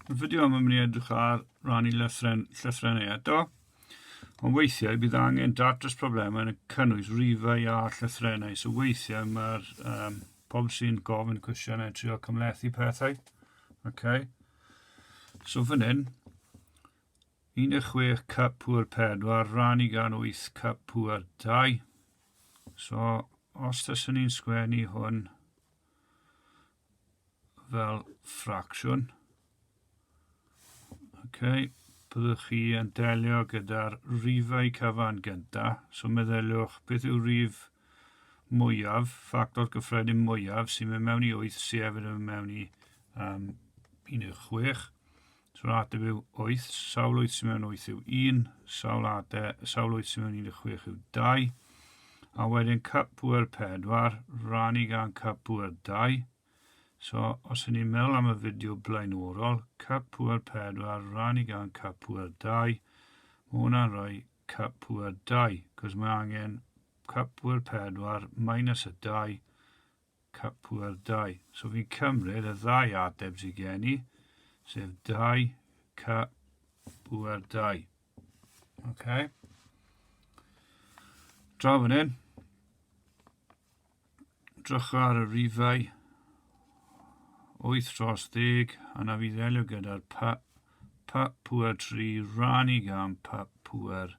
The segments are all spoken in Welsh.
Mae'n fideo am ymwneud edrych ar rannu llythren, llythrenau eto, ond weithiau bydd angen datrys problemau yn y cynnwys rifau a llythrenau, so weithiau mae'r um, pobl sy'n gofyn cwestiynau trio cymlethu pethau. Okay. So fan hyn, 16 cup pŵr 4, rannu gan 8 cup pŵr 2. So, os tysyn ni'n sgwennu hwn, fel ffracsiwn. OK, byddwch chi yn delio gyda'r rifau cyfan gyntaf. So meddyliwch beth yw rif mwyaf, ffactor gyffredin mwyaf sy'n mynd mewn i 8 sef yn mynd mewn i um, 16. Sawl adeg yw wyth? Sawl wyth sy'n mewn wyth yw un. Sawl adeg, sawl wyth sy'n mewn un y chwech yw dau. A wedyn cup pŵer pedwar, rannu gan cup pŵer dau. So, os ydyn ni'n meddwl am y fideo blaenorol, cup pŵer pedwar, rannu gan cup pŵer dau, mae hwnna'n rhoi cup pŵer dau, cos mae angen cup pŵer pedwar minus y dau, Cupwared dau. So fi'n cymryd y ddau ateb sydd gen i, sef dau cupwared dau. Okay. Draw fan hyn. Drych ar y rifau. 8 dros 10, a na fi ddelio gyda'r pa, pa pwer 3 rannu gan pa pwer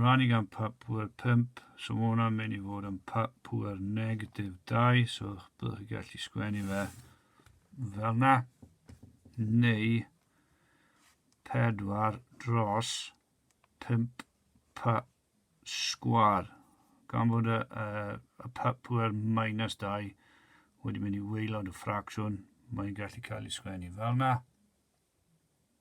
Running am pa pŵer 5, so mae hwnna'n mynd i fod am pa pŵer negatif 2, so byddwch chi'n gallu sgwennu fe fel na, neu 4 dros 5 pa sgwar, gan fod y, y, y pa pŵer minus 2 wedi mynd i weilod y ffracsiwn, mae'n gallu cael ei sgwennu fel na.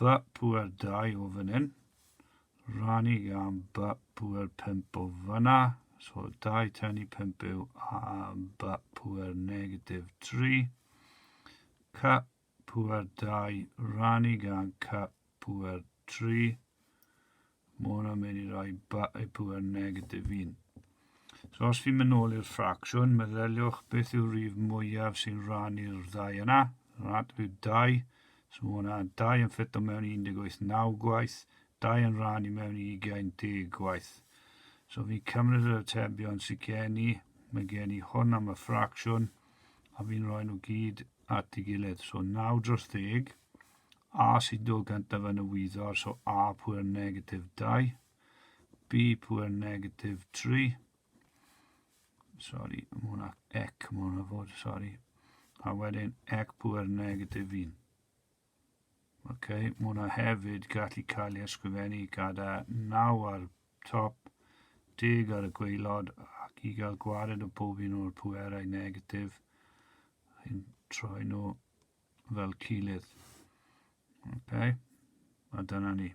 Ba pŵer dau o fan hyn. Rani am ba pŵer pump o fanna. So dau tan i pump yw a ba pŵer negatif tri. Ca pŵer dau rani gan ca pŵer tri. Mae hwnna'n mynd i roi y pŵer negatif un. So os fi'n mynd nôl i'r ffracsiwn, meddyliwch beth yw'r rif mwyaf sy'n rhan i'r ddau yna. Rhan yw 2. So mae hwnna 2 yn ffit o mewn 18 9 gwaith, 2 yn rhan i mewn 20 10 gwaith. So fi'n cymryd yr atebion sy'n gen i, mae gen i hwn am y ffracsiwn, a fi'n rhoi nhw gyd at ei gilydd. So 9 dros 10, A sido gyntaf yn y wyddor, so A pwer negatif 2, B pwer negatif 3, sorry, mae hwnna ec, mae hwnna fod, sorry, a wedyn ec pwer negatif 1. Ok, mae hwnna hefyd gallu cael ei ysgrifennu gyda 9 ar top, 10 ar y gweilod, ac i gael gwared o bob un o'r pwerau negatif, chi'n troi nhw fel cilydd. Okay. A dyna ni.